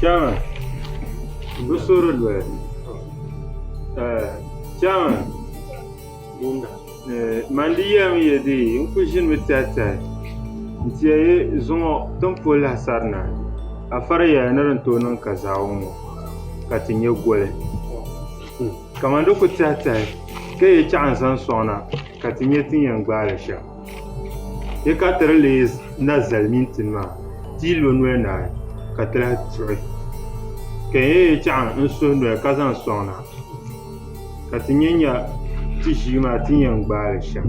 Chairman m bi suhuri doli chairman man di yɛli mi ya dee n kuli ʒini mi tɛhi tɛhi n ti yɛli zuŋɔ ti ni pol lahi sarina a fariya ni di ni tooi niŋ kazaa ŋɔ ka ti nyɛ goli kaman di kuli tɛhi tɛhi ka yɛ chaɣu n zaŋ sɔŋ na ka ti nyɛ ti ni yɛn gbaali shɛm Di ka ti di leei na zali mini ti ma, ti yi lo noli naai, ka ti lahi tuɣi. Ka n yɛn chaŋ n suhi noli ka zaŋ sɔŋ na, ka ti nya nya ti ʒii maa ti ni yɛn gbaai li shɛm.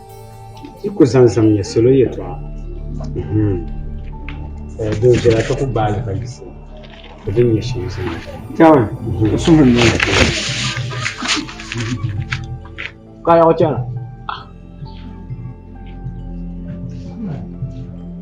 Yi ku zaŋ zaŋmiya salo yɛtɔɣa din viɛla ka ku gbaai li ka yiɣisi ka din nyɛ shɛm zaŋ li. Ka yaɣi chana.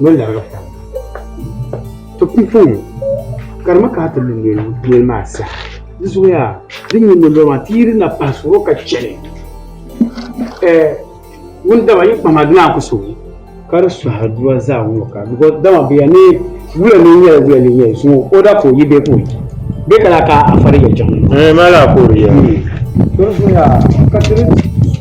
ni o larigi taba maa. To pumpɔŋɔ karimi ka ti lu noli maa saha di zuya di nyu noli maa ti yi di na pahi suhuro ka chɛli wundaba yi kpama di naa ku suhi ka di suhi aduwa zaa ŋɔ ka dama bi ya ni wuya ni nyɛla wuya ni nyɛla zuŋɔ o da ka o yi bee ka o yi bee ka la ka a fari yɛltɔɣa. Ŋuni maa la ka o di yɛm.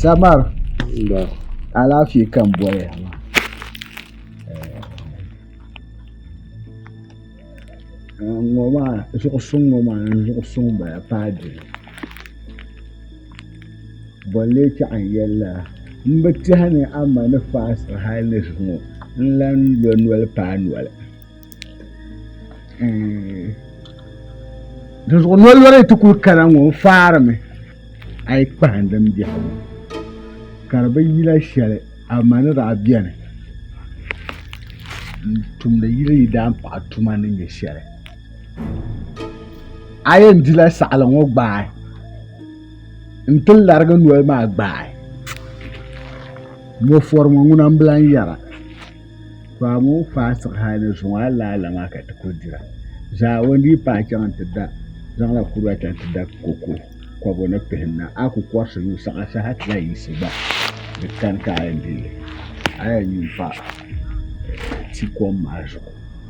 samar alaafee ka n bɔri ya maa ŋɔ maa zuɣu suŋ ŋɔ maa n zuɣu suŋ bala paagi bɔn lee chaɣi n yɛli lala n bi tiɛha ni a ma ni faasti hali ni zuŋɔ n lan lo noli paai noli dinzuɣu noli lɔri ti kuli kana ŋɔ n faarimi a yi kpahim din biɛhi ŋɔ ka di bi yila shɛli a ma ni daa biɛni n tumdi yili yi daan paɣi tuma ni nyɛ shɛli a yɛn dila saɣali ŋɔ gbaai n ti larigi noli maa gbaai mo fɔri ŋɔ ŋuna n bilan yɛra to a moo faai siɣi hali ni zuŋɔ a la ala maa ka ti kuli dira zaa o ni dii paai chaŋ n ti da zaŋla kuriga chaŋ ti da koko kɔbu ni pihim na a ku kɔrisi yuui saɣa saha ti lahi yiɣisi gba di kani ka a yɛn deei a yɛn yuun pa ti kom maa zuɣu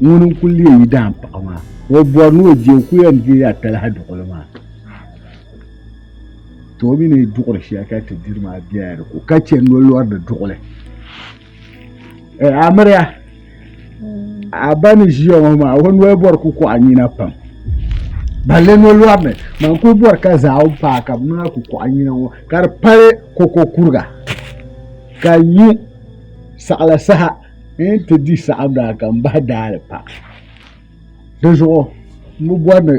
ŋuni n kuli leei dahin paɣa maa ka o bɔri ni o deei o kuli yɛn deeila talahi duɣili maa ka o mi ni duɣiri shɛli ka ti diri maa bela di ko ka chani ni o lɔri di duɣili amiliya a ba ni ʒiya ŋɔ maa o noli bɔri kuli kɔɣi nina pam balle ni o lɔri li maa n kuli bɔri ka zaawuni n paai ka bɛ noli kuli kɔɣi nina ŋɔ ka di pali kolikokuriga ka nyu saɣila saha n yɛn ti di saɣim daa ka n bahi daali pa di zuɣu n bi bɔri ni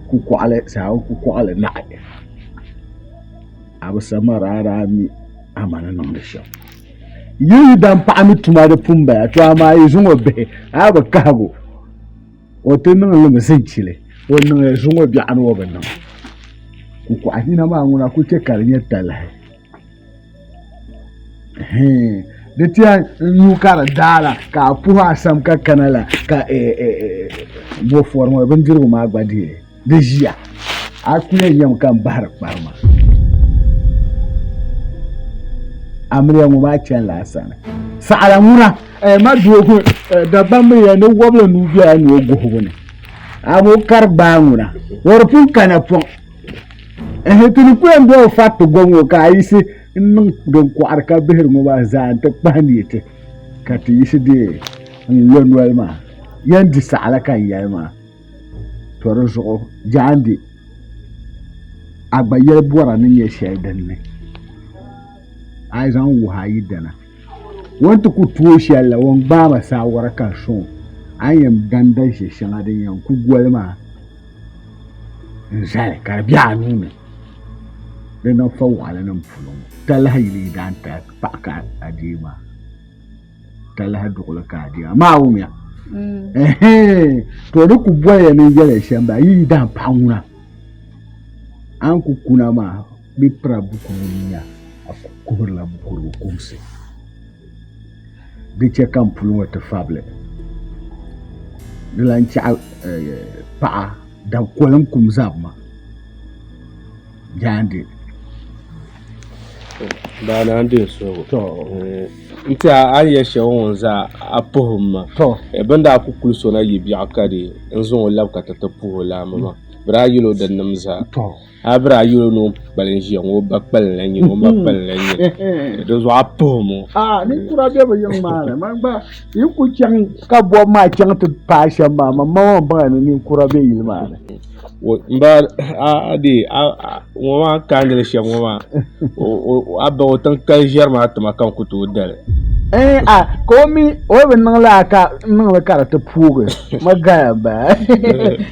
kukɔɣili saɣim kukɔɣili naɣi a bi sama daa daa mi amani niŋdi shɛm yi yi dan paɣa ni tuma di pun bala to amaa yi zuŋɔ bihi a bi kahigu o ti niŋ limi zinchili o niŋ zuŋɔ biɛɣu ni o bi niŋ kukɔɣinina maa ŋuna ku chɛ ka di nyɛ talahi di tiɛha nuu ka di daa la ka a puhi asam ka kana la ka bofori ŋɔ bindirigu maa gba di di ʒiya a kuli yɛn nyɛmi ka n bahiri kparima amiliya ŋɔ maa chɛni la sani saɣala ŋuna ma doogi dabam mi yɛn ni wɔbili nuu bɛla ni o guhigu ni a ŋɔ kari gbaa ŋuna o di pun kana pɔŋ ehe ti ni kuyɛn doli fati gom ŋɔ ka a yisi n niŋ din kɔɣiri ka bihiri ŋɔ maa zaa n ti kpahi ni ti ka ti yisi deei n lo noli maa yɛn di saɣila ka n yɛli maa to di zuɣu jaandi a gba yɛli bɔra ni nyɛ shɛli din ni a zaŋ wuhi a yidana wọn ti ku tuui shɛli la wọn gbaai ma saawara ka n sɔŋ a ni yɛn danda ʒe shɛŋa din yɛn ku goli maa n zali ka di bɛ a nuu ni di niŋ fa waɣala nim puuni ŋɔ talahi yili yi daan tahi paɣa ka adeei maa talahi duɣuli ka adeei maa maa wumiya to di ku bɔliya ni yɛli shɛm ba yi yi daan paɣa ŋuna a ni ku kuna maa bi pira bukuru nya a ku kuhurila bukuru kumsi di chɛ ka n puli ŋɔ ti fabili. Di lan chɛɣi paɣa da koliŋ kum zabima jaande. Daa ni a ni deei soli ŋɔ n ti a a ni yɛli shɛli ŋɔ n zaa a puhim ma bɛ ni daa ku kuli sɔna yi biɛɣu ka di n zaŋ o labi ka ti ti puhi o laamba maa bɛ daa yɛl o di nim zaa. a biri a yuli noo kpalim ʒiya ŋɔ ba kpalim la nyini o ma kpalim la nyini di zuɣu a puhi mo a ninkura bɛ bi yiŋ maa ni man gba yi ku chaŋ ka bɔbi maa chaŋ ti paai shɛm maa man ma maa baŋa ni ninkura bɛ yili maa ni n ba a de ŋɔ maa kaandili shɛm ŋɔ maa a ba o tiŋ kali ʒɛri maa tima ka n ku tooi dali eh, a ka o mi o bi niŋla ka niŋli ka di ti puugi ma gaya ba